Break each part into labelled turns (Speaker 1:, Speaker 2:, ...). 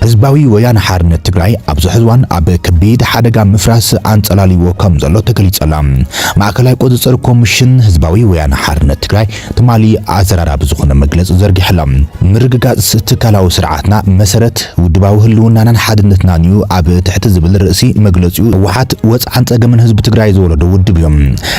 Speaker 1: ህዝባዊ ወያነ ሓርነት ትግራይ ኣብዚ ሕዚ እዋን ኣብ ከቢድ ሓደጋ ምፍራስ ኣንጸላልይዎ ከም ዘሎ ተገሊጹ ኣሎ። ማእከላይ ቁጽጽር ኮምሽን ህዝባዊ ወያነ ሓርነት ትግራይ ትማሊ ኣዘራራቢ ዝኾነ መግለጺ ዘርጊሑ ኣሎ። ምርግጋጽ ትካላዊ ስርዓትና መሰረት ውድባዊ ህልውናናን ሓድነትናን'ዩ ኣብ ትሕቲ ዝብል ርእሲ መግለጺኡ ህወሓት ወጽዓን ጸገምን ህዝቢ ትግራይ ዝወለዶ ውድብ'ዩ።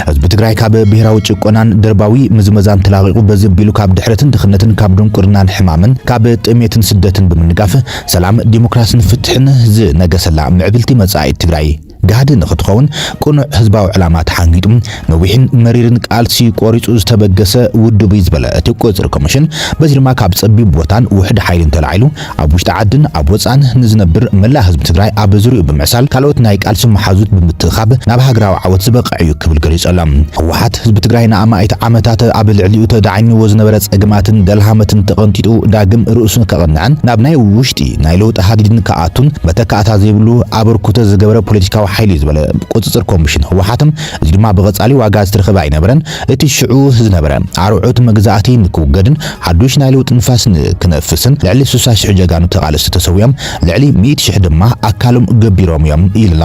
Speaker 1: ህዝቢ ትግራይ ካብ ብሄራዊ ጭቆናን ደርባዊ ምዝመዛን ተላቒቑ በዚ ኣቢሉ ካብ ድሕረትን ድኽነትን ካብ ድንቁርናን ሕማምን ካብ ጥሜትን ስደትን ብምንጋፍ ሰላም ዲሞክራስን ፍትሕን ዝነገሰላ ምዕብልቲ መፃኢት ትግራይ ጋህዲ ንኽትኸውን ቅኑዕ ህዝባዊ ዕላማ ተሓንጊጡ ነዊሕን መሪርን ቃልሲ ቆሪፁ ዝተበገሰ ውድብ እዩ ዝበለ እቲ ቁፅፅር ኮሚሽን በዚ ድማ ካብ ፀቢብ ቦታን ውሑድ ሓይልን ተላዒሉ ኣብ ውሽጢ ዓድን ኣብ ወፃእን ንዝነብር መላእ ህዝቢ ትግራይ ኣብ ዙርይኡ ብምዕሳል ካልኦት ናይ ቃልሲ መሓዙት ብምትእኻብ ናብ ሃገራዊ ዓወት ዝበቅዕ እዩ ክብል ገሊፆሎም። ህወሓት ህዝቢ ትግራይ ንኣማኢት ዓመታት ኣብ ልዕሊኡ ተዳዕኝዎ ዝነበረ ፀገማትን ደልሃመትን ተቐንጢጡ ዳግም ርእሱ ከቕንዕን ናብ ናይ ውሽጢ ናይ ለውጢ ሃዲድን ክኣቱን መተካእታ ዘይብሉ ኣበርኩቶ ዝገበረ ፖለቲካዊ ሓይሊ እዩ ዝበለ ቁፅፅር ኮሚሽን ህወሓት እዚ ድማ ብቐፃሊ ዋጋ ዝተረኸበ ኣይነበረን እቲ ሽዑ ዝነበረ ኣርዑት መግዛእቲ ንክውገድን ሓዱሽ ናይ ለውጢ ንፋስ ንክነፍስን ልዕሊ ስሳ ሽሕ ጀጋኑ ተቓለስቲ ተሰዊኦም፣ ልዕሊ ሚእቲ ሽሕ ድማ ኣካሎም ገቢሮም እዮም ኢልና።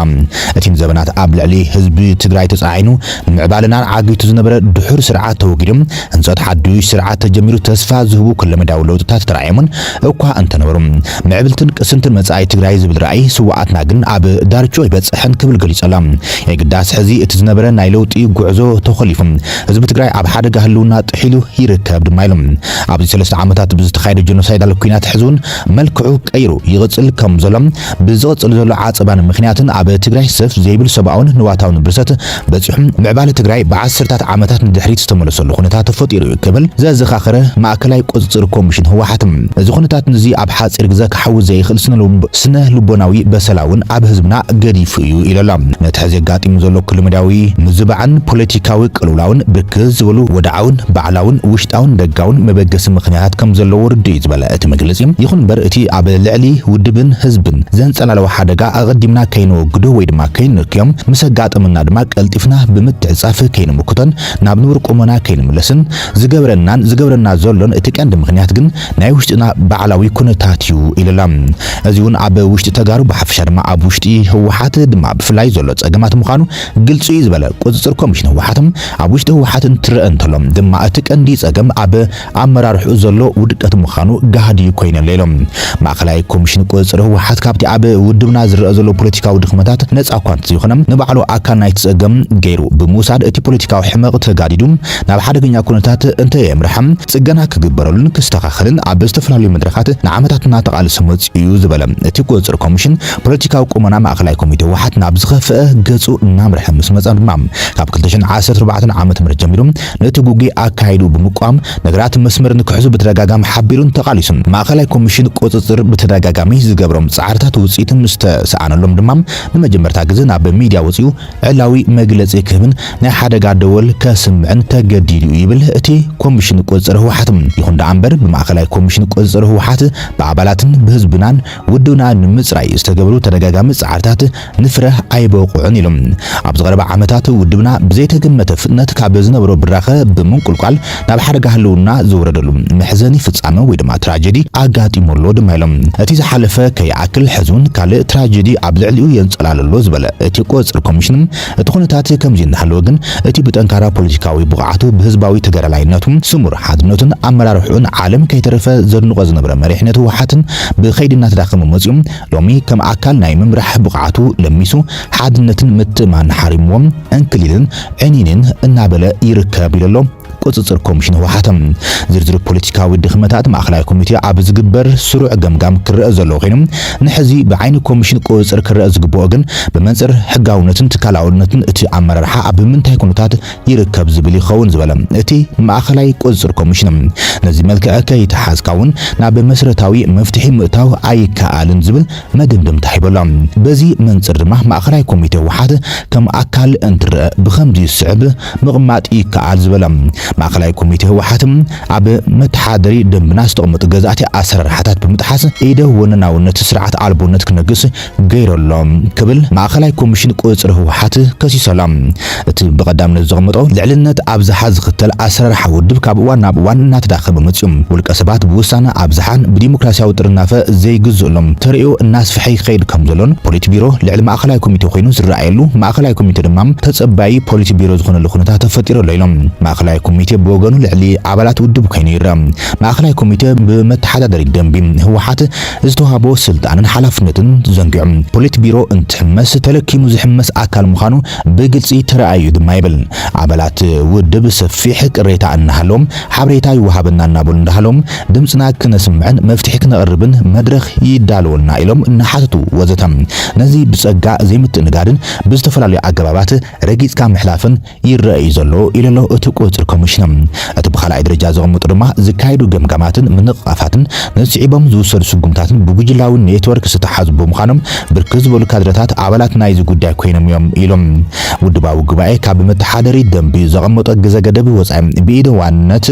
Speaker 1: እቲ ንዘበናት ኣብ ልዕሊ ህዝቢ ትግራይ ተጻዒኑ ንምዕባለና ዓጊቱ ዝነበረ ድሑር ስርዓት ተወጊዱ ህንጸት ሓዱሽ ስርዓት ተጀሚሩ ተስፋ ዝህቡ ኩለመዳያዊ ለውጥታት ተራእዮምን እኳ እንተነበሩ፣ ምዕብልትን ቅስንትን መጻኢ ትግራይ ዝብል ራእይ ስውኣትና ግን ኣብ ዳርችኡ ኣይበጸሐን ክብል ገሊጸላ። የግዳስ ሕዚ እቲ ዝነበረ ናይ ለውጢ ጉዕዞ ተኾሊፉ ህዝቢ ትግራይ ኣብ ሓደጋ ህልውና ጥሒሉ ይርከብ ድማ ኢሉ። ኣብዚ ሰለስተ ዓመታት ብዝተኻየደ ጀኖሳይዳል ኲናት ሕዚ'ውን መልክዑ ቀይሩ ይቕጽል ከም ዘሎን ብዝቕጽል ዘሎ ዓጸባን ምኽንያትን ኣብ ትግራይ ሰፍ ዘይብል ሰብኣውን ንዋታውን ብርሰት በጺሑ ምዕባለ ትግራይ ብዓሰርታት ዓመታት ንድሕሪት ዝተመለሰሉ ኩነታት ተፈጢሩ እዩ ክብል ዘዘኻኸረ ማእከላይ ቁጽጽር ኮሚሽን ህወሓት፣ እዚ ኩነታት እዚ ኣብ ሓጺር ግዘ ክሓዊ ዘይኽእል ስነ ልቦናዊ በሰላ እውን ኣብ ህዝብና ገዲፉ እዩ ኢሉ ኣሎ። ነቲ ሕዚ ኣጋጢሙ ዘሎ ክለመዳዊ ምዝባዕን ፖለቲካዊ ቅልውላውን ብርክት ዝበሉ ወድዓውን ባዕላውን ውሽጣውን ደጋውን መበገሲ ምኽንያታት ከም ዘለዎ ርዱእ እዩ ዝበለ እቲ መግለጺ፣ ይኹን እምበር እቲ ኣብ ልዕሊ ውድብን ህዝብን ዘንጸላለወ ሓደጋ ኣቐዲምና ከይነወግዶ ወይ ድማ ከይንንክዮም፣ ምስ ኣጋጠመና ድማ ቀልጢፍና ብምትዕጻፍ ከይንምክቶን ናብ ንቡር ቁመና ከይንምለስን ዝገብረናን ዝገብረና ዘሎን እቲ ቀንዲ ምኽንያት ግን ናይ ውሽጥና ባዕላዊ ኩነታት እዩ ኢሉ ኣሎ። እዚ'ውን ኣብ ውሽጢ ተጋሩ ብሓፈሻ ድማ ኣብ ውሽጢ ህወሓት ድማ ብፍላይ ዘሎ ጸገማት ምዃኑ ግልጺ እዩ ዝበለ ቁጽጽር ኮሚሽን ህወሓት ኣብ ውሽጢ ህወሓት እንትረኣ እንተሎ ድማ እቲ ቀንዲ ጸገም ኣብ ኣመራርሕኡ ዘሎ ውድቀት ምዃኑ ጋህዲ እዩ ኮይነለ ኢሎም። ማእኸላይ ኮሚሽን ቁፅፅር ህወሓት ካብቲ ኣብ ውድብና ዝረኣ ዘሎ ፖለቲካዊ ድኽመታት ነፃ እኳ እንተዘይኾነ ንባዕሉ ኣካል ናይቲ ፀገም ገይሩ ብምውሳድ እቲ ፖለቲካዊ ሕመቕ ተጋዲዱ ናብ ሓደገኛ ኩነታት እንተየምረሐ ፅገና ክግበረሉን ክስተኻኸልን ኣብ ዝተፈላለዩ መድረኻት ንዓመታት እናተቓለሰ መፂኡ እዩ ዝበለ እቲ ቁፅፅር ኮሚሽን ፖለቲካዊ ቁመና ማእኸላይ ኮሚቴ ህወሓት ናብ ዝኸፍኣ ገፁ እናምረሐ ምስ መፀ ድማ ካብ ክልተ ሽሕን ዓሰርተ ኣርባዕተን ዓመተ ምህረት ጀሚሩ ነቲ ጉጉይ ኣካይዱ ብምቋም ነገራት መስመር ንክሕዙ ብተደጋጋሚ ሓቢሩን ተቓሊሱን። ማእኸላይ ኮሚሽን ቁፅፅር ብተደጋጋሚ ዝገብሮም ፃዕርታት ውፅኢት ምስ ተሰኣነሎም ድማ ንመጀመርታ ግዘ ናብ ሚድያ ወፂኡ ዕላዊ መግለፂ ክህብን ናይ ሓደጋ ደወል ከስምዕን ተገዲዱ እዩ ይብል እቲ ኮሚሽን ቁፅፅር ህወሓት። ይኹን ደኣ እምበር ብማእኸላይ ኮሚሽን ቁፅፅር ህወሓት ብኣባላትን ብህዝብናን ውድብና ንምፅራይ ዝተገብሩ ተደጋጋሚ ፃዕርታት ንፍረ ኣይበቑዑን ኢሉ። ኣብዚ ቀረባ ዓመታት ውድብና ብዘይተገመተ ፍጥነት ካብ ዝነበሮ ብራኸ ብምንቁልቋል ናብ ሓደጋ ህልውና ዝወረደሉ መሕዘኒ ፍጻመ ወይ ድማ ትራጀዲ ኣጋጢሙ ኣሎ ድማ ኢሎም። እቲ ዝሓለፈ ከይኣክል ሕዚ እውን ካልእ ትራጀዲ ኣብ ልዕሊኡ የንጸላሉ ኣሎ ዝበለ እቲ ቁጽጽር ኮሚሽን እቲ ኩነታት ከምዚ እናሃለወ ግን እቲ ብጠንካራ ፖለቲካዊ ብቕዓቱ ብህዝባዊ ተጋዳላይነቱ ስሙር ሓድነቱን ኣመራርሕኡን ዓለም ከይተረፈ ዘድንቖ ዝነበረ መሪሕነት ህወሓት ብከይዲ እናተዳኸመ መጺኡ ሎሚ ከም ኣካል ናይ ምምራሕ ብቕዓቱ ለሚሱ ሓድነትን ምትእምማንን ሓሪምዎ ዕንክሊልን ዕኒንን እናበለ ይርከብ ኢሉ'ሎ ቁጽጽር ኮሚሽን ህወሓት። ዝርዝር ፖለቲካዊ ድኽመታት ማእከላይ ኮሚቴ ኣብ ዝግበር ስሩዕ ገምጋም ክረኣ ዘለዎ ኮይኑ ንሕዚ ብዓይኒ ኮሚሽን ቁጽጽር ክረኣ ዝግበኦ ግን ብመንጽር ሕጋውነትን ትካላውነትን እቲ ኣመራርሓ ኣብ ምንታይ ኩነታት ይርከብ ዝብል ይኸውን ዝበለ እቲ ማእኸላይ ቁፅፅር ኮሚሽን፣ ነዚ መልክዕ ከይተሓዝካ እውን ናብ መስረታዊ መፍትሒ ምእታው ኣይከኣልን ዝብል መደምደምታ ሂቡ ኣሎ። በዚ መንፅር ድማ ማእኸላይ ኮሚቴ ህወሓት ከም ኣካል እንትረኣ ብኸምዚ ዝስዕብ ምቕማጥ ይከኣል ዝበለ ማእኸላይ ኮሚቴ ህወሓት ኣብ መተሓደሪ ደንብና ዝተቐመጡ ገዛእቲ ኣሰራርሓታት ብምጥሓስ ኢደ ወነናውነት ስርዓት ኣልቦነት ክነግስ ገይሩ ኣሎ ክብል ማእኸላይ ኮሚሽን ቁፅፅር ህወሓት ከሲሱ ኣሎ። እቲ ብቐዳምነት ዘቐመጦ ልዕልነት ኣብዝሓ ዝኽተል ኣሰራርሓ ውድብ ካብ እዋን ናብ እዋን እናተዳኸመ መፂኡ፣ ውልቀ ሰባት ብውሳነ ኣብዝሓን ብዲሞክራሲያዊ ጥርናፈ ዘይግዝእሎም ተርእዮ እናስፈሐ ይኸይድ ከምዘሎን ፖሊት ቢሮ ልዕሊ ማእኸላይ ኮሚቴ ኮይኑ ዝረኣየሉ ማእኸላይ ኮሚቴ ድማ ተፀባዪ ፖሊት ቢሮ ዝኾነሉ ኩነታት ተፈጢሩ ኣሎ ኢሎም። ማእኸላይ ኮሚቴ ብወገኑ ልዕሊ ኣባላት ውድብ ኮይኑ ይረኣ። ማእኸላይ ኮሚቴ ብመተሓዳደሪ ደንቢ ህወሓት ዝተዋህቦ ስልጣንን ሓላፍነትን ዘንጊዑ ፖሊት ቢሮ እንትሕመስ ተለኪሙ ዝሕመስ ኣካል ምዃኑ ብግልፂ ተረኣዩ ድማ ይብል። ኣባላት ውድብ ሰፊሕ ቅሬታ እናሃለዎም ሓብሬታ ይወሃበና እናበሉ እንዳሃለዎም ድምፅና ክነስምዕን መፍትሒ ክነቕርብን መድረኽ ይዳለወልና ኢሎም እናሓተቱ ወዘተ ነዚ ብፀጋ ዘይምትእንጋድን ብዝተፈላለዩ ኣገባባት ረጊፅካ ምሕላፍን ይረኣ እዩ ዘሎ ኢሉ ኣሎ እቲ ቁፅፅር ኮሚሽን። እቲ ብካልኣይ ደረጃ ዘቐመጦ ድማ ዝካየዱ ገምጋማትን ምንቕቓፋትን ንስዒቦም ዝውሰዱ ስጉምታትን ብጉጅላዊ ኔትወርክ ዝተትሓዙ ብምዃኖም ብርክት ዝበሉ ካድረታት ኣባላት ናይዚ ጉዳይ ኮይኖም እዮም ኢሉ። ውድባዊ ጉባኤ ካብ ብመተሓደሪ ደንቢ ዘቐመጦ ግዘ ገደብ ወፃኢ ብኢደ ዋንነት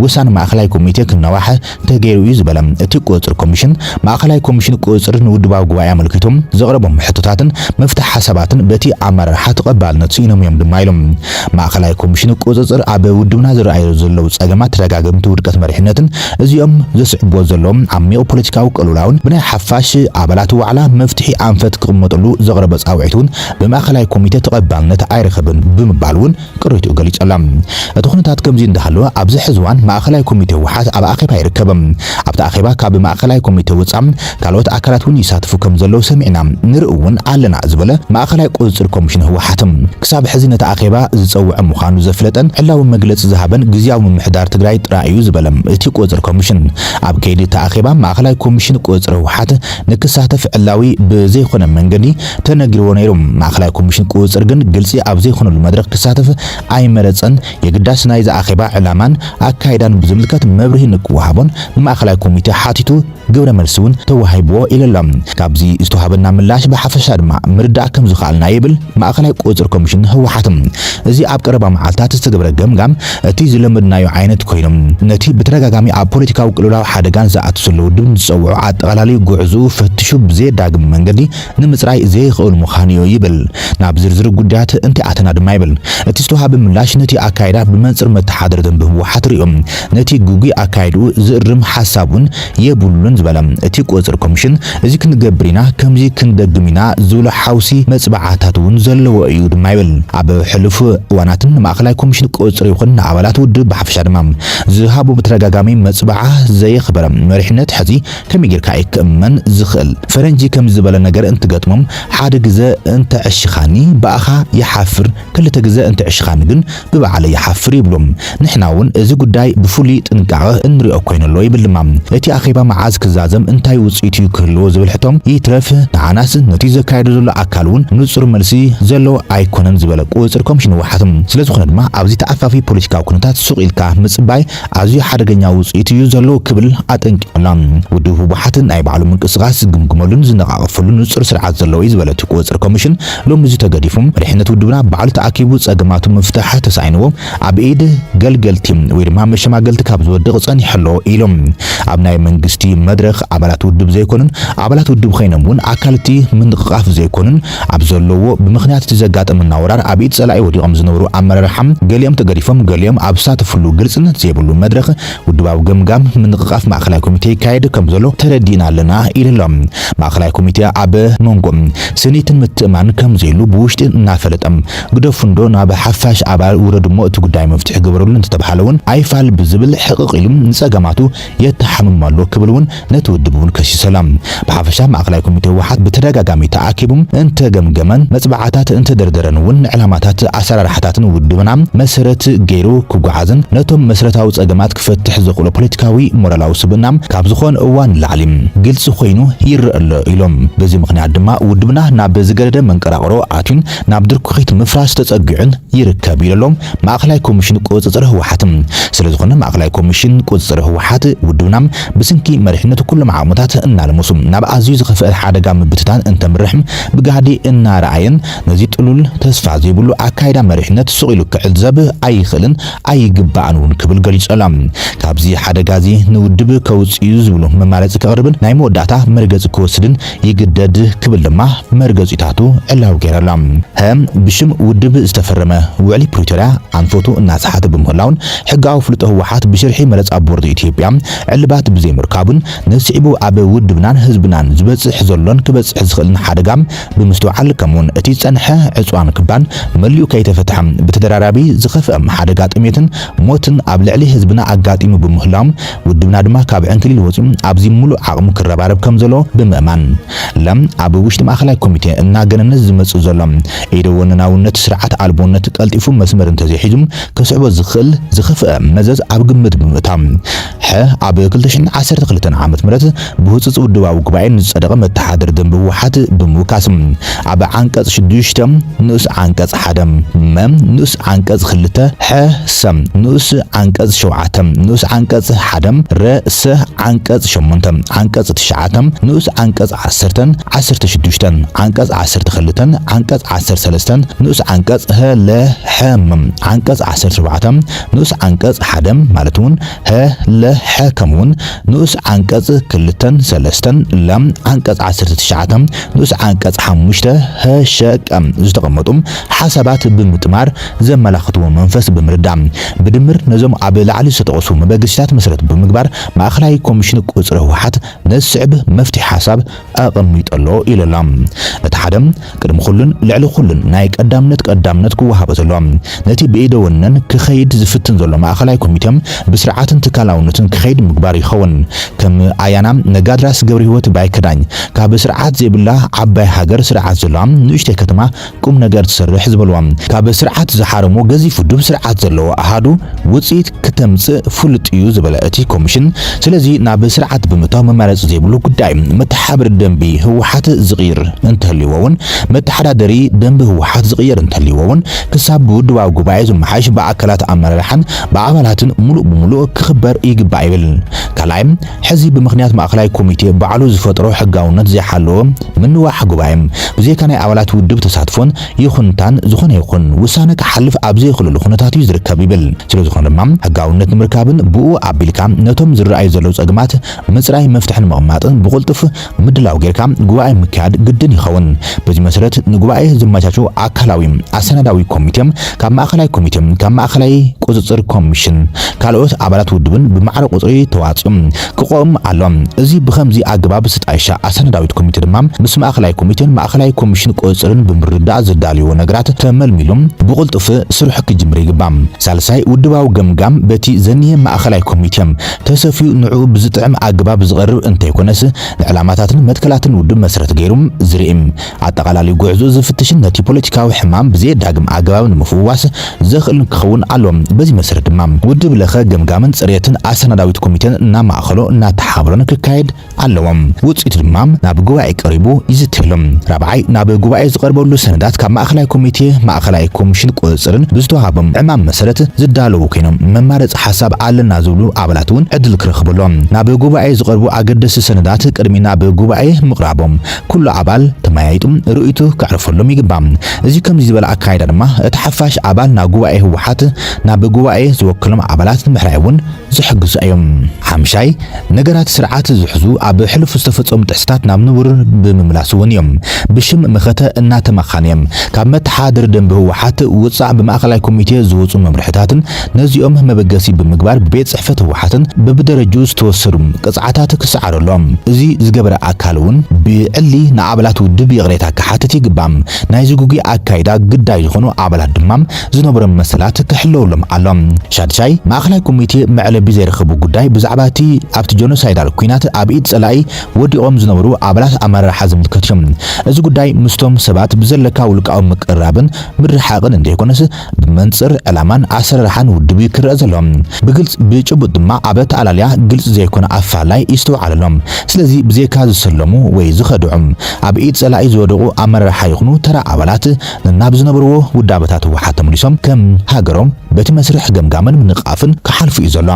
Speaker 1: ውሳነ ማእኸላይ ኮሚቴ ክናዋሕ ተገይሩ እዩ ዝበለ እቲ ቁፅፅር ኮሚሽን፣ ማእኸላይ ኮሚሽን ቁፅፅር ንውድባዊ ጉባኤ ኣመልኪቱ ዘቕረቦም ሕቶታትን መፍትሒ ሓሳባትን በቲ ኣመራርሓ ተቐባልነት ስኢኖም እዮም ድማ ኢሉ። ማእኸላይ ኮሚሽን ቁፅፅር ኣብ ውድብና ዝረኣዩ ዘለው ፀገማት ተደጋገምቲ ውድቀት መሪሕነትን እዚኦም ዘስዕቡዎ ዘለው ዓሚቕ ፖለቲካዊ ቅልውላውን ብናይ ሓፋሽ ኣባላት ዋዕላ መፍትሒ ኣንፈት ክቕመጥሉ ዘቕረቦ ፃውዒት እውን ብማእኸላይ ኮሚቴ ተቐባልነት ኣይረኸበን ብምባል እውን ቅሬትኡ ገሊጸላ። እቲ ኩነታት ከምዚ እንዳሃለወ ኣብዚ ሕዚ እዋን ማእኸላይ ኮሚቴ ህወሓት ኣብ ኣኼባ ይርከብ። ኣብቲ ኣኼባ ካብ ማእኸላይ ኮሚቴ ወፃእ ካልኦት ኣካላት እውን ይሳተፉ ከምዘለዉ ሰሚዕና ንርኢ እውን ኣለና ዝበለ ማእኸላይ ቁፅፅር ኮሚሽን ህወሓት ክሳብ ሕዚ ነቲ ኣኼባ ዝፀውዐ ምዃኑ ዘፍለጠን ዕላዊ መግለፂ ዝሃበን ግዝያዊ ምምሕዳር ትግራይ ጥራይ እዩ ዝበለ እቲ ቁፅፅር ኮሚሽን ኣብ ከይዲ እቲ ኣኼባ ማእኸላይ ኮሚሽን ቁፅፅር ህወሓት ንክሳተፍ ዕላዊ ብዘይኾነ መንገዲ ተነጊርዎ ነይሩ። ማእከላይ ኮሚሽን ቁጽጽር ግን ግልጺ ኣብ ዘይኮነሉ መድረኽ ክሳተፍ ኣይመረጸን። የግዳስ ናይዚ ኣኼባ ዕላማን ኣካይዳን ብዝምልከት መብርሂ ንክወሃቦን ንማእከላይ ኮሚቴ ሓቲቱ ግብረ መልሲ እውን ተዋሂብዎ ኢሉ'ሎ። ካብዚ ዝተዋህበና ምላሽ ብሓፈሻ ድማ ምርዳእ ከም ዝኸኣልናዮ ይብል ማእከላይ ቁጽጽር ኮሚሽን ህወሓት። እዚ ኣብ ቀረባ መዓልታት ዝተገብረ ገምጋም እቲ ዝለመድናዮ ዓይነት ኮይኑ ነቲ ብተደጋጋሚ ኣብ ፖለቲካዊ ቅልውላው ሓደጋን ዝኣቱ ዘሎ ውድብን ዝጸውዖ ኣጠቓላሊ ጉዕዝኡ ፈትሹ ብዘየዳግም መንገዲ ንምጽራይ ዘይኽእል ምዃኑዮ ይብል። ናብ ዝርዝር ጉዳያት እንተይኣተና ድማ ይብል እቲ ዝተውሃበ ምላሽ ነቲ ኣካይዳ ብመንጽር መተሓድሪ ደንቢ ህወሓት ርእዩ ነቲ ግጉይ ኣካይድኡ ዝእርም ሓሳብውን የብሉን ዝበለ እቲ ቁጽጽር ኮሚሽን እዚ ክንገብር ኢና ከምዚ ክንደግም ኢና ዝብሎ ሓውሲ መጽብዓታትውን ዘለዎ እዩ ድማ ይብል። ኣብ ሕሉፍ እዋናት ንማእኸላይ ኮሚሽን ቁጽጽር ይኹን ንኣባላት ውድብ ብሓፈሻ ድማ ዝሃቦ ብተደጋጋሚ መጽብዓ ዘየኽበረ መሪሕነት ሕዚ ከመይ ጌርካ እዩ ክእመን ዝኽእል? ፈረንጂ ከምዚ ዝበለ ነገር እንትገጥሞም ሓደ ግዘ እንተ ዕሽኻኒ ብኣኻ ይሓፍር ክልተ ግዘ እንተ ዕሽኻኒ ግን ብባዕለይ ይሓፍር ይብሉ። ንሕና እውን እዚ ጉዳይ ብፍሉይ ጥንቃቐ እንሪኦ ኮይኑ ኣሎ ይብል ድማ። እቲ ኣኼባ መዓዝ ክዛዘም እንታይ ውፅኢት እዩ ክህልዎ ዝብል ሕቶ ይትረፍ ንዓናስ ነቲ ዘካይዶ ዘሎ ኣካል እውን ንፁር መልሲ ዘለዎ ኣይኮነን ዝበለ ቁፅፅር ኮምሽን ህወሓት ስለዝኾነ ድማ ኣብዚ ተኣፋፊ ፖለቲካዊ ኩነታት ሱቕ ኢልካ ምፅባይ ኣዝዩ ሓደገኛ ውጽኢት እዩ ዘሎ ክብል ኣጠንቂቑላ። ውድብ ህወሓት ናይ ባዕሉ ምንቅስቓስ ዝግምግመሉን ዝነቓቐፈሉን ንጹር ስርዓት ዘለዎ እዩ ዝበለ እቲ ቁጽጽር ኮሚሽን፣ ሎሚ እዚ ተገዲፉ መሪሕነት ውድብና ባዕሉ ተኣኪቡ ጸገማቱ ምፍታሕ ተሳኢንዎ ኣብ ኢድ ገልገልቲ ወይ ድማ መሸማገልቲ ካብ ዝወድቕ ጸኒሑ ኣሎ ኢሉ። ኣብ ናይ መንግስቲ መድረኽ ኣባላት ውድብ ዘይኮኑን ኣባላት ውድብ ኸይኖም እውን ኣካል እቲ ምንቕቓፍ ዘይኮኑን ኣብ ዘለዉዎ ብምኽንያት እቲ ዘጋጠመና ወራር ኣብ ኢድ ፀላኢ ወዲቖም ዝነበሩ ኣመራርሓ ገሊኦም ተገዲፎም ገሊኦም ኣብ ዝሳተፍሉ ግልፅነት ዘይብሉ መድረኽ ውድባዊ ገምጋም ምንቕቓፍ ማእኸላይ ኮሚቴ ይካየድ ከምዘሎ ተረዲእና ኣለና ኢሉ'ሎ። ማእኸላይ ኮሚቴ ኣብ መንጎ ስኒትን ምትእምማንን ከምዘይሉ ብውሽጢ እናፈለጠ ግደፉ እንዶ ናብ ሓፋሽ ኣባል ውረዱ'ሞ እቲ ጉዳይ መፍትሒ ግበርሉ እንተተብሃለ እውን ኣይፋል ብዝብል ሕቕቕ ኢሉ ንፀገማቱ የተሓምም ኣሎ ክብል እውን ነቲ ውድብ እውን ከሲሱ ኣላ። ብሓፈሻ ማእኸላይ ኮሚቴ ህወሓት ብተደጋጋሚ ተኣኪቡ እንተገምገመን መፅብዓታት እንተደርደረን እውን ንዕላማታትን ኣሰራርሓታትን ውድብና መሰረት ገይሩ ክጓዓዝን ነቶም መስረታዊ ፀገማት ክፈትሕ ዘኽእሎ ፖለቲካዊ ሞራላዊ ስብእና ካብ ዝኾን እዋን ንላዕሊ ግልፂ ኮይኑ ይረእ ኣሎ ኢሎም። በዚ ምኽንያት ድማ ውድብና ናብ ዝገደደ መንቀራቕሮ ኣትዩ ናብ ድርኩኺት ምፍራስ ተጸጊዑን ይርከብ ኢሎሎም ማእከላይ ኮሚሽን ቁጽጽር ህወሓት። ስለዝኾነ ማእከላይ ኮሚሽን ቁጽጽር ህወሓት ውድብና ብስንኪ መሪሕነቱ ኩሎም ዓቕምታት እናልመሱ ናብ ኣዝዩ ዝኸፍኣ ሓደጋ ምብትታን እንተምርሕ ብጋህዲ እናረኣየን ነዚ ጥሉል ተስፋ ዘይብሉ ኣካይዳ መሪሕነት ሱቕ ኢሉ ክዕዘብ ኣይኽእልን ኣይግባእን እውን ክብል ገሊጾሎም ካብዚ ሓደጋዚ ንውድብ ከውጽእ'ዩ ዝብሉ መማረጺ ከቕርብን ናይ መወዳእታ መርገጺ ክወስድን ይግደድ ክብል ድማ መርገጺታቱ ዕላዊ ገይሩ ኣሎ። ህም ብሽም ውድብ ዝተፈረመ ውዕሊ ፕሪቶርያ ኣንፈቱ እናሰሓተ ብምህላዉን ሕጋዊ ኣፍልጦ ህወሓት ብሽርሒ መረጻ ቦርድ ኢትዮጵያ ዕልባት ብዘይምርካቡን ንስዒቡ ኣብ ውድብናን ህዝብናን ዝበጽሕ ዘሎን ክበጽሕ ዝኽእልን ሓደጋ ብምስትውዓል ከምኡ'ውን እቲ ዝጸንሐ ዕጽዋን ክባን መሊኡ ከይተፈትሐ ብተደራራቢ ዝኸፍኣ ሓደጋ ጥሜትን ሞትን ኣብ ልዕሊ ህዝብና ኣጋጢሙ ብምህላዉ ውድብና ድማ ካብ ዕንክሊል ወጺኡ ኣብዚ ምሉእ ዓቕሙ ክረባረብ ከም ዘለዎ ብምእማን፣ ለ። ኣብ ውሽጢ ማእከላይ ኮሚቴ እናገነነ ዝመጽእ ዘሎ ኢደ ወነናውነት ስርዓት ኣልቦነት ቀልጢፉ መስመር እንተዘይሒዙ ከስዕቦ ዝኽእል ዝኸፍኣ መዘዝ ኣብ ግምት ብምእታው፣ ሐ። ኣብ ክልተ ሽሕን ዓሰርተ ክልተን ዓመተ ምህረት፣ ብህጹጽ ውድባዊ ጉባኤ ንዝጸደቐ መተሓደሪ ደንቢ ህወሓት ብምውካስ ኣብ ዓንቀጽ ሽዱሽተ ንኡስ ዓንቀጽ ሓደ፣ መ፣ ንኡስ ዓንቀጽ ክልተ፣ ሐ፣ ሰ፣ ንኡስ ዓንቀጽ ሸውዓተ፣ ንኡስ ዓንቀጽ ሓደ፣ ረ፣ ሰ፣ ዓንቀጽ ሸሞንተ፣ ዓንቀጽ ትሽዓተ፣ ንኡስ ዓንቀጽ ዓሰርተን ዓሰርተ ሽዱሽተን፣ ዓንቀጽ ዓሰርተ ክልተን ዓንቀጽ ዓሰርተ ሰለስተን፣ ንኡስ ዓንቀጽ፣ ህ፣ ለ፣ ሐ፣ ም፣ ዓንቀጽ ዓሰርተ ሸውዓተ፣ ንኡስ ዓንቀጽ ሓደ፣ ማለት'ውን ህ፣ ል፣ ሐ ከምኡውን ንኡስ ዓንቀጽ ክልተን ሰለስተን፣ ለ፣ ዓንቀጽ ዓሰርተ ትሽዓተ፣ ንኡስ ዓንቀጽ ሓሙሽተ፣ ህ፣ ሸ፣ ቀ፣ ዝተቐመጡ ሓሳባት ብምጥማር ዘመላኽትዎ መንፈስ ብምርዳእ ብድምር ነዞም ኣብ ላዕሊ ዝተጠቐሱ መበገሲታት መሰረት ብምግባር ማእኸላይ ኮሚሽን ቁጽሪ ህወሓት ነዚ ዝስዕብ መፍትሒ ሓሳብ ኣቐሚጡ ኣሎ ኢሉ ኣሎ። እቲ ሓደ ቅድሚ ኩሉን ልዕሊ ኩሉን ናይ ቀዳምነት ቀዳምነት ክወሃቦ ዘለዎ ነቲ ብኢደ ወነን ክኸይድ ዝፍትን ዘሎ ማእኸላይ ኮሚቴ ብስርዓትን ትካላውነትን ክኸይድ ምግባር ይኸውን። ከም ኣያና ነጋድራስ ገብርሂወት ባይከዳኝ ካብ ስርዓት ዘይብላ ዓባይ ሃገር ስርዓት ዘለዋ ንኡሽተይ ከተማ ቁም ነገር ትሰርሕ ዝበልዋ ካብ ስርዓት ዝሓረሙ ገዚፍ ውዱብ ስርዓት ዘለዎ ኣሃዱ ውፅኢት ክተምፅእ ፍሉጥ እዩ ዝበለ እቲ ኮሚሽን ስለዚ ናብ ስርዓት ብምእታው መማረፂ ዘይብሉ ጉዳይ እዩ። መተሓብሪ ደንቢ ህወሓት ዝቕይር እንተልዩዎ እውን መተሓዳደሪ ደንቢ ህወሓት ዝቕየር እንተልዩዎ እውን ክሳብ ብውድባዊ ጉባኤ ዝመሓየሽ ብኣካላት ኣመራርሓን ብኣባላትን ሙሉእ ብሙሉእ ክኽበር ይግባእ ይብል። ካልኣይ ሕዚ ብምኽንያት ማእከላይ ኮሚቴ ባዕሉ ዝፈጠሮ ሕጋውነት ዘይሓለወ ምንዋሕ ጉባኤ፣ ብዘይካ ናይ ኣባላት ውድብ ተሳትፎን ይኹንታን ዝኾነ ይኹን ውሳነ ክሓልፍ ኣብ ዘይኽእለሉ ኩነታት እዩ ዝርከብ ይብል። ስለዝኾነ ድማ ሕጋውነት ንምርካብን ብኡ ኣቢልካ ነቶም ዝረኣዩ ዘለዉ ጸገማት ምጽራይ መፍትሒ ንምቕማጥን ብቕልጡፍ ምድላው ጌርካ ጉባኤ ምክያድ ግድን ይኸውን። በዚ መሰረት ንጉባኤ ዘመቻቹ ኣካላዊ፣ ኣሰናዳዊ፣ ኮሚቴ፣ ካብ ማእኸላይ ኮሚቴ፣ ካብ ማእኸላይ ቁፅፅር ኮሚሽን፣ ካልኦት ኣባላት ውድብን ብማዕረ ቁፅሪ ተዋፅኦም ክቆም ኣሎ። እዚ ብኸምዚ ኣገባብ ዝተጣየሻ ኣሰናዳዊት ኮሚቴ ድማ ምስ ማእኸላይ ኮሚቴን ማእኸላይ ኮሚሽን ቁፅፅርን ብምርድዳእ ዘዳልይዎ ነገራት ተመልሚሉ ብቕልጡፍ ስርሑ ክጅምር ይግባእ። ሳልሳይ፣ ውድባዊ ገምጋም በቲ ዘኒሀ ማእኸላይ ኮሚቴ ተሰፍዩ ንዕኡ ብዝጥዕም ኣገባብ ዝቐርብ እንተይኮነስ ንዕላማታትን መትከላትን ውድብ መስረት ገይሩ ዝሪእም ኣጠቓላሊ ጉዕዞ ዝፍትሽን ነቲ ፖለቲካዊ ሕማም ብዘየዳግም ኣገባብ ንምፍዋስ ዘኽእልን ክኸውን ኣለዎ። በዚ መሰረት ድማ ውድብ ለኸ ገምጋምን ፅርየትን ኣሰናዳዊት ኮሚቴን እናማእኸሎ እናተሓባበሮን ክካየድ ኣለዎም። ውጽኢቱ ድማ ናብ ጉባኤ ቀሪቡ ይዝተየሉ። ራብዓይ፣ ናብ ጉባኤ ዝቐርበሉ ሰነዳት ካብ ማእከላይ ኮሚቴ፣ ማእከላይ ኮሚሽን ቁጽጽርን ብዝተዋህቦም ዕማም መሰረት ዝዳለዉ ኮይኖም መማረጺ ሓሳብ ኣለና ዝብሉ ኣባላት እውን ዕድል ክረኽቡ ኣለዎም። ናብ ጉባኤ ዝቐርቡ ኣገደስቲ ሰነዳት ቅድሚ ናብ ጉባኤ ምቕራቦም ኩሉ ኣባል ተመያይጡ ርእይቱ ከዕርፈሎም ይግባእ። እዚ ከምዚ ዝበለ ኣካይዳ ድማ እቲ ሓፋሽ ኣባል ናብ ጉባኤ ህወሓት ናብ ጉባኤ ዝወከሎም ኣባላት ንምሕራይ እውን ዝሕግዙ ኣዮም። ሓምሻይ፣ ነገራት ስርዓት ዝሕዙ ኣብ ሕሉፍ ዝተፈጸሙ ጥሕሰታት ናብ ንቡር ብምምላስ ውን እዮም። ብሽም መኸተ እናተማኻኑ እዮም። ካብ መተሓድሪ ደንቢ ህወሓት ውጻእ ብማእኸላይ ኮሚቴ ዝወጹ መምርሕታትን ነዚኦም መበገሲ ብምግባር ብቤት ጽሕፈት ህወሓትን በብደረጅኡ ዝተወሰዱ ቅጽዓታት ክሰዓሩ ኣሎዎም። እዚ ዝገበረ ኣካል ውን ብዕሊ ንኣባላት ውድብ ይቕሬታ ክሓትት ይግባእ። ናይዚ ግጉይ ኣካይዳ ግዳይ ዝኾኑ ኣባላት ድማ ዝነበሮም መሰላት ክሕለወሎም ኣሎም። ሻድሻይ፣ ማእከላይ ኮሚቴ መዕለቢ ዘይረኸቡ ጉዳይ ብዛዕባ እቲ ኣብቲ ጀኖሳይዳል ኲናት ኣብ ኢድ ጸላኢ ወዲቖም ዝነበሩ ኣባላት ኣመራርሓ ዝምልከት እዩ። እዚ ጉዳይ ምስቶም ሰባት ብዘለካ ውልቃዊ ምቅርራብን ምርሕሓቕን እንተይኮነስ ብመንጽር ዕላማን ኣሰራርሓን ውድብ እዩ ክረኣ ዘሎ። ብግልጽ ብጭቡጥ ድማ ኣብ ኣተኣላልያ ግልጺ ዘይኮነ ኣፈላላይ ይስተውዓል ኣሎ። ስለዚ ብዘይካ ዝሰለሙ ወይ ዝኸድዑ ኣብ ኢድ ጸላኢ ዝወደቑ ኣመራርሓ ይኹኑ ተራ ኣባላት ነናብ ዝነበርዎ ውዳበታት ህወሓት ተመሊሶም ከም ሃገሮም በቲ መስርሕ ገምጋምን ምንቕቓፍን ክሓልፉ እዩ ዘሎ።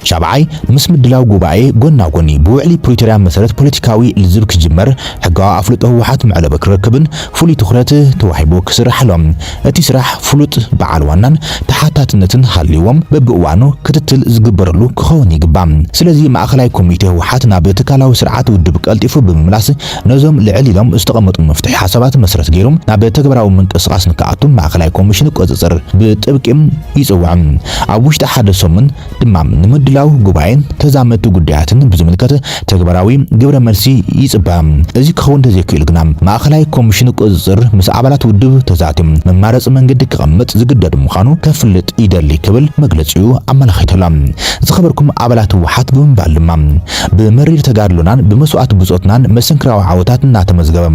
Speaker 1: ሻብዓይ፣ ምስ ምድላው ጉባኤ ጎና ጎኒ ብውዕሊ ፕሪቶርያ መሰረት ፖለቲካዊ ልዝብ ክጅመር ሕጋዊ ኣፍልጦ ህወሓት መዕለቢ ክረክብን ፍሉይ ትኹረት ተዋሂቡ ክስራሕ ኣሎ። እቲ ስራሕ ፍሉጥ በዓል ዋናን ተሓታትነትን ሃልይዎም በብእዋኑ ክትትል ዝግበረሉ ክኸውን ይግባእ። ስለዚ ማእኸላይ ኮሚቴ ህወሓት ናብ ትካላዊ ስርዓት ውድብ ቀልጢፉ ብምምላስ ነዞም ልዕል ኢሎም ዝተቐመጡ መፍትሒ ሓሳባት መሰረት ገይሩ ናብ ተግባራዊ ምንቅስቓስ ንክኣቱ ማእኸላይ ኮሚሽን ቁፅፅር ብጥብቂ ይፅውዕ። ኣብ ውሽጢ ሓደ ሰሙን ድማ ንምድላው ጉባኤን ተዛመድቲ ጉዳያትን ብዝምልከት ተግባራዊ ግብረ መልሲ ይፅበ። እዚ ክኸውን እንተዘይክኢሉ ግና ማእኸላይ ኮሚሽን ቁፅፅር ምስ ኣባላት ውድብ ተዛትዩ መማረፂ መንገዲ ክቐምጥ ዝግደድ ምዃኑ ከፍልጥ ይደሊ ክብል መግለፂኡ ኣመላኺቱ ኣሎ። ዝኸበርኩም ኣባላት ህወሓት ብምባል ድማ ብመሪር ተጋድሎናን ብመስዋእቲ ብጾትናን መሰንክራዊ ዓወታት እናተመዝገበ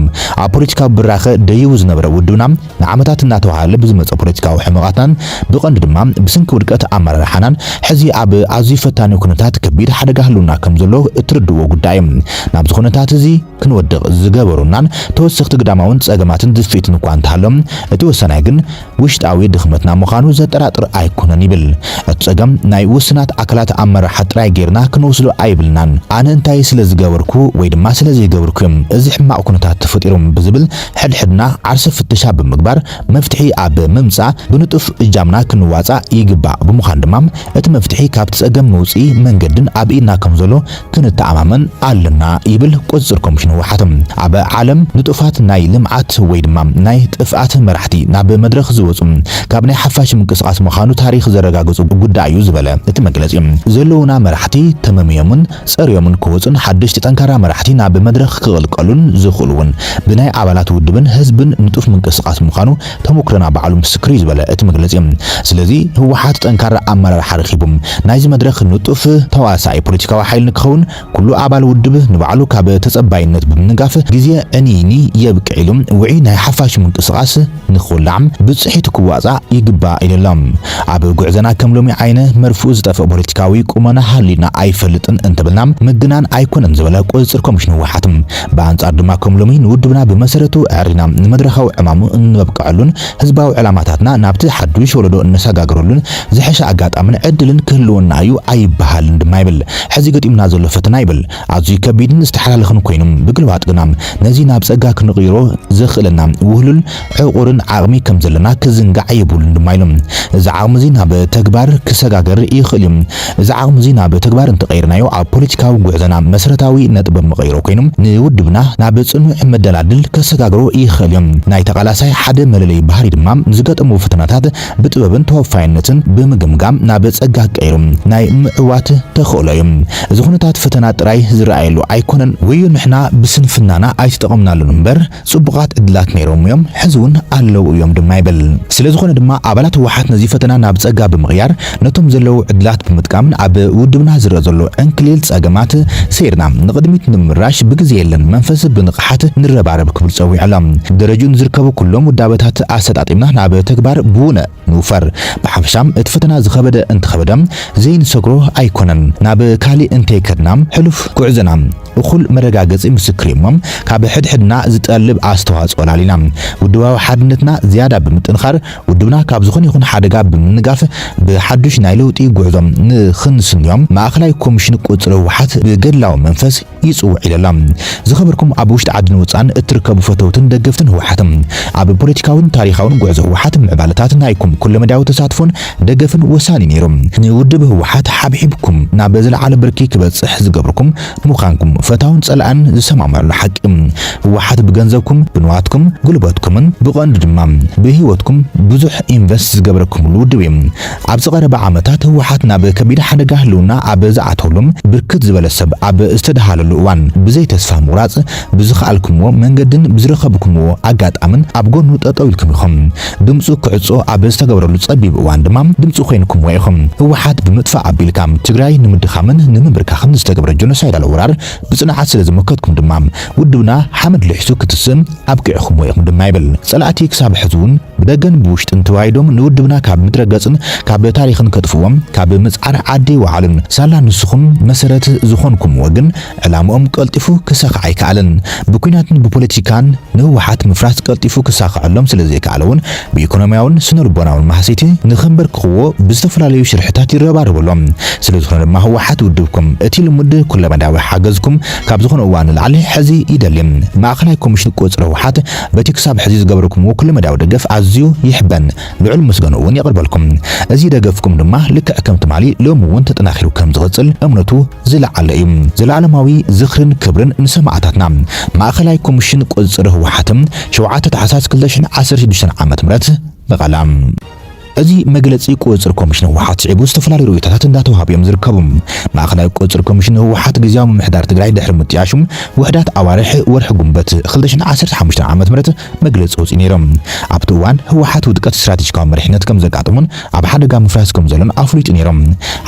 Speaker 1: ኣብ ፖለቲካዊ ብራኸ ደይቡ ዝነበረ ውድብና ንዓመታት እናተዋህለለ ብዝመጸ ፖለቲካዊ ሕመቓትናን ብቐንዱ ድማ ብስንኪ ውድቀት ኣመራርሓናን ሕዚ ኣብ ኣዝዩ ፈታኒ ኩነታት ከቢድ ሓደጋ ህልውና ከምዘሎ እትርድእዎ ጉዳይ እዩ። ናብዚ ኩነታት እዚ ክንወድቕ ዝገበሩናን ተወሰኽቲ ግዳማውን ጸገማትን ድፍኢትን እኳ እንተሃሎም እቲ ወሳናይ ግን ውሽጣዊ ድኽመትና ምዃኑ ዘጠራጥር ኣይኮነን ይብል። እቲ ጸገም ናይ ውስናት ኣካላት ኣመራርሓ ጥራይ ጌርና ክንወስዶ ኣይብልናን። ኣነ እንታይ ስለ ዝገበርኩ ወይ ድማ ስለ ዘይገበርኩ'ዮም እዚ ሕማቕ ኩነታት ተፈጢሩ ብዝብል ሕድሕድና ዓርሰ ፍተሻ ብምግባር መፍትሒ ኣብ ምምጻእ ብንጡፍ እጃምና ክንዋጻእ ይግባእ። ብምዃኑ ድማ እቲ መፍትሒ ካብቲ ጸገም መውጽኢ መንገድን ኣብ ኢድና ከም ዘሎ ክንተኣማመን ኣለና ይብል ቁጽጽር ኮሚሽን ህወሓት። ኣብ ዓለም ንጡፋት ናይ ልምዓት ወይ ድማ ናይ ጥፍኣት መራሕቲ ናብ መድረኽ ዝወጹ ካብ ናይ ሓፋሽ ምንቅስቓስ ምኻኑ ታሪኽ ዘረጋግጹ ጉዳይ እዩ ዝበለ እቲ መግለጺ ዘለዉና መራሕቲ ተመምዮምን ጸርዮምን ክወጹን ሓደሽቲ ጠንካራ መራሕቲ ናብ መድረኽ ክቕልቀሉን ዝኽእሉ ውን ብናይ ኣባላት ውድብን ህዝብን ንጡፍ ምንቅስቓስ ምኻኑ ተሞክሮና ባዕሉ ምስክር እዩ ዝበለ እቲ መግለፂ፣ ስለዚ ህወሓት ጠንካራ ኣመራርሓ ረኺቡ ናይዚ መድረኽ ንጡፍ ተዋሳኢ ፖለቲካዊ ሓይሊ ንክኸውን ኩሉ ኣባል ውድብ ንባዕሉ ካብ ተፀባይነት ብምንጋፍ ግዜ ዕንይንይ የብቅዕ ኢሉ ውዕይ ናይ ሓፋሽ ምንቅስቓስ ንክውላዕ ብፅሒቱ ክዋፃእ ይግባእ ኢለ ኣሎ። ኣብ ጉዕዘና ከም ሎሚ ዓይነ መርፍኡ ዝጠፍእ ፖለቲካዊ ቁመና ሃልዩና ኣይፈልጥን እንተበልና ምግናን ኣይኮነን ዝበለ ቁፅፅር ኮሚሽን ህወሓት ብኣንጻር ድማ ከም ሎሚ ንውድብና ብመሰረቱ ኣዐሪና ንመድረኻዊ ዕማሙ እንበብቀዐሉን ህዝባዊ ዕላማታትና ናብቲ ሓዱሽ ወለዶ እነሰጋግረሉን ዝሐሸ ኣጋጣምን ዕድልን ክህልወና እዩ ኣይበሃልን ድማ ይብል። ሕዚ ገጢሙና ዘሎ ፈተና ይብል ኣዝዩ ከቢድን ዝተሓላለኸን ኮይኑ ብግልባጥ ግና ነዚ ናብ ጸጋ ክንቕይሮ ዘኽእለና ውህሉል ዕቑርን ዓቕሚ ከም ዘለና ክዝንጋዕ የብሉን ድማ ኢሎም። እዚ ዓቕሚ'ዚ ናብ ተግባር ክሰጋገር ይኽእል እዩ። እዚ ዓቕሚ'ዚ ናብ ተግባር እንተቐይርናዮ ኣብ ፖለቲካዊ ጉዕዞና መሰረታዊ ነጥበ መቐይሮ ኮይኑ ንውድብና ናብ ጽኑዕ መደላድል ከሰጋግሮ ይኽእል እዩ። ናይ ተቓላሳይ ሓደ መለለዩ ባህሪ ድማ ንዝገጠሞ ፈተናታት ብጥበብን ተወፋይነትን ብምግምጋም ናብ ጸጋ ቀይሩ ናይ ምዕዋት ተኽእሎ እዩ። እዚ ኩነታት ፈተና ጥራይ ዝረኣየሉ ኣይኮነን። ወዮ ንሕና ብስንፍናና ኣይተጠቐምናሉን እምበር፣ ጽቡቓት ዕድላት ነይሮም'ዮም፣ ሕዚ'ውን ኣለዉ እዮም ድማ ይብል። ስለዝኾነ ድማ ኣባላት ህወሓት ነዚ ፈተና ናብ ጸጋ ብምቕያር ነቶም ዘለዉ ዕድላት ብምጥቃምን ኣብ ውድብና ዝረኣ ዘሎ ዕንክሊል ጸገማት ሰይርና ንቕድሚት ንምምራሽ ብግዜ የለን መንፈስ ብንቕሓት ንረባረብ ክብል ጸዊዑ'ሎ። ደረጅኡ ንዝርከቡ ኩሎም ውዳበታት ኣሰጣጢምና ናብ ተግባር ብውነ ንውፈር። ብሓፈሻ እቲ ፈተና ዝኸበደ እንተኸበደ ዘይንሰግሮ ኣይኮነን። ናብ ካሊእ እንተይከድና ሕሉፍ ጉዕዞና። እኹል መረጋገጺ ምስክር'ዩ'ሞ፣ ካብ ሕድሕድና ዝጠልብ ኣስተዋጽኦ ኣላሊና፣ ውድባዊ ሓድነትና ዝያዳ ብምጥንኻር፣ ውድብና ካብ ዝኾነ ይኹን ሓደጋ ብምንጋፍ፣ ብሓዱሽ ናይ ለውጢ ጉዕዞ ንኽንስንዮ፣ ማእከላይ ኮሚሽን ቁጽሪ ህወሓት ብገድላዊ መንፈስ ይጽውዕ ኢለ ኣሎ። ዝኸበርኩም ኣብ ውሽጢ ዓድን ወጻእን እትርከቡ ፈተውትን ደገፍትን ህወሓት፣ ኣብ ፖለቲካዊን ታሪኻውን ጉዕዞ ህወሓት ምዕባለታት ናይኩም ኩለመዳያዊ ተሳትፎን፣ ደገፍን ወሳኒ ነይሩ። ንውድብ ህወሓት ሓብሒብኩም ናብ ዝለዓለ ብርኪ ክበፅሕ ዝገብርኩም ምዃንኩም ፈታውን ፀላእን ዝሰማማዕሉ ሓቂ እዩ። ህወሓት ብገንዘብኩም፣ ብንዋትኩም፣ ጉልበትኩምን ብቐንዱ ድማ ብህይወትኩም ብዙሕ ኢንቨስት ዝገበረኩምሉ ውድብ እዩ። ኣብዚ ቀረባ ዓመታት ህወሓት ናብ ከቢድ ሓደጋ ህልውና ኣብ ዝኣተወሉን ብርክት ዝበለ ሰብ ኣብ ዝተደሃለሉ እዋን ብዘይ ተስፋ ምቑራፅ ብዝኸኣልኩምዎ መንገድን ብዝረኸብኩምዎ ኣጋጣምን ኣብ ጎኑ ጠጠው ኢልኩም ኢኹም። ድምፁ ክዕፆ ኣብ ዝተገበረሉ ፀቢብ እዋን ድማ ድምፂ ኮይንኩምዎ ኢኹም። ህወሓት ብምጥፋእ ኣቢልካ ትግራይ ንምድኻምን ንምምብርካኽን ዝተገብረ ጆኖሳይዳል ወራር ብፅንዓት ስለዝሞከትኩም ድማ ውድብና ሓመድ ልሒሱ ክትስእ ኣብቂዕኹምዎ ኢኹም ድማ ይብል። ፀላእቲ ክሳብ ሕዚውን ብደገን ብውሽጥን ተዋይዶም ንውድብና ካብ ምድረ ገፅን ካብ ታሪኽን ከጥፍእዎ ካብ ምፅዓር ዓዲ ኣይወዓሉን። ሳላ ንስኹም መሰረት ዝኾንኩምዎ ግን ዕላምኦም ቀልጢፉ ክሳኻዕ ኣይከኣለን። ብኲናትን ብፖለቲካን ንህወሓት ምፍራስ ቀልጢፉ ክሳኸዐሎም ስለዘይከኣለ እውን ብኢኮኖሚያውን ስነልቦናውን ማህሰይቲ ንከምበርክኽዎ ብዝተፈላለዩ ሽርሕታት ይረባረቡ ኣሎም። ስለዝኾነ ድማ ህወሓት ውድብኩም እቲ ልሙድ ኩለመዳያዊ ሓገዝኩም ካብ ዝኾነ እዋን ንላዕሊ ሕዚ ይደሊ። ማእኸላይ ኮሚሽን ቁፅሪ ህወሓት በቲ ክሳብ ሕዚ ዝገበርኩምዎ ኩለመዳያዊ ደገፍ ኣዝዩ ይሕበን። ልዑል ምስገንኡ'ውን የቕርበልኩም። እዚ ደገፍኩም ድማ ልክዕ ከም ትማሊ ሎሚ'ውን ተጠናኺሩ ከም ዝቕጽል እምነቱ ዝለዓለ እዩ። ዘለኣለማዊ ዝኽርን ክብርን ንሰማእታትና! ማእኸላይ ኮሚሽን ቁፅፅር ህወሓት ሸውዓተ ታሕሳስ ክልተ ሽሕን ዓሰርተ ሽዱሽተን ዓመተ ምህረት መቐለ። እዚ መግለፂ ቁፅፅር ኮሚሽን ህወሓት ስዒቡ ዝተፈላለዩ ርኢቶታት እንዳተውሃቡ እዮም ዝርከቡ። ማእኸላይ ቁፅፅር ኮሚሽን ህወሓት ግዝያዊ ምምሕዳር ትግራይ ድሕሪ ምጥያሹ ውሕዳት ኣዋርሕ ወርሒ ጉንበት ክልተ ሽሕን ዓሰርተ ሓሙሽተን ዓመተ ምህረት መግለጺ ኣውጺኡ ነይሩ። ኣብቲ እዋን ህወሓት ውድቀት ስትራቴጂካዊ መሪሕነት ከም ዘጋጠሞን ኣብ ሓደጋ ምፍራስ ከም ዘሎን ኣፍሊጡ ነይሩ።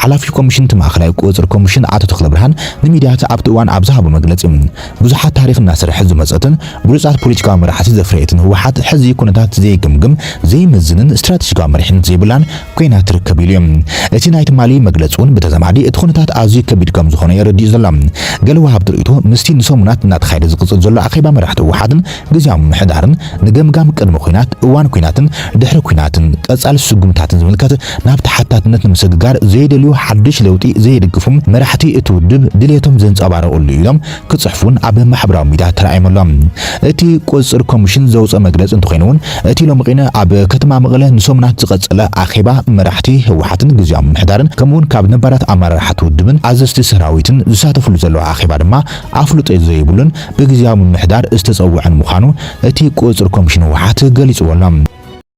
Speaker 1: ሓላፊ ኮሚሽን እቲ ማእኸላይ ቁፅፅር ኮሚሽን ኣቶ ተኽለብርሃን ንሚድያት ኣብቲ እዋን ኣብ ዝሃቦ መግለጺ ብዙሓት ታሪኽ እናሰርሐት ዝመፀትን ብሉፃት ፖለቲካዊ መራሕቲ ዘፍረየትን ህወሓት ሕዚ ኩነታት ዘይግምግም ዘይምዝንን ስትራቴጂካዊ መሪሕነት ዘይብላን ኮይና ትርከብ ኢሉ እዩ። እቲ ናይ ትማሊ መግለፂ እውን ብተዛማዲ እቲ ኩነታት ኣዝዩ ከቢድ ከም ዝኾነ እዩ ኣረዲኡ ዘሎ። ገለ ወሃብቲ ርእይቶ ምስቲ ንሰሙናት እናተኻየደ ዝቕፅል ዘሎ ኣኼባ መራሕቲ ህወሓትን ግዝያዊ ምምሕዳርን ንገምጋም ቅድመ ኲናት፣ እዋን ኲናትን ድሕሪ ኲናትን ቀፃሊ ስጉምታትን ዝምልከት ናብ ተሓታትነት ንምስግጋር ዘይደልዩ ሓዱሽ ለውጢ ዘይድግፉ መራሕቲ እቲ ውድብ ድልየቶም ዘንፀባረቕሉ ኢሎም ክፅሕፉ እውን ኣብ ማሕበራዊ ሚድያ ተራእዮም ኣሎም። እቲ ቁፅፅር ኮሚሽን ዘውፀኦ መግለፂ እንተኾይኑ እውን እቲ ሎምቕነ ኣብ ከተማ መቐለ ንሰሙናት ዝቐፀለ ኣኼባ መራሕቲ ህወሓትን ግዝያዊ ምምሕዳርን ከምኡ እውን ካብ ነባራት ኣመራርሓ እቲ ውድብን ኣዘዝቲ ሰራዊትን ዝሳተፍሉ ዘለዉ ኣኼባ ድማ ኣፍልጦ ዘይብሉን ብግዝያዊ ምምሕዳር ዝተጸውዐን ምዃኑ እቲ ቁጽጽር ኮሚሽን ህወሓት ገሊጽዎ'ሎ።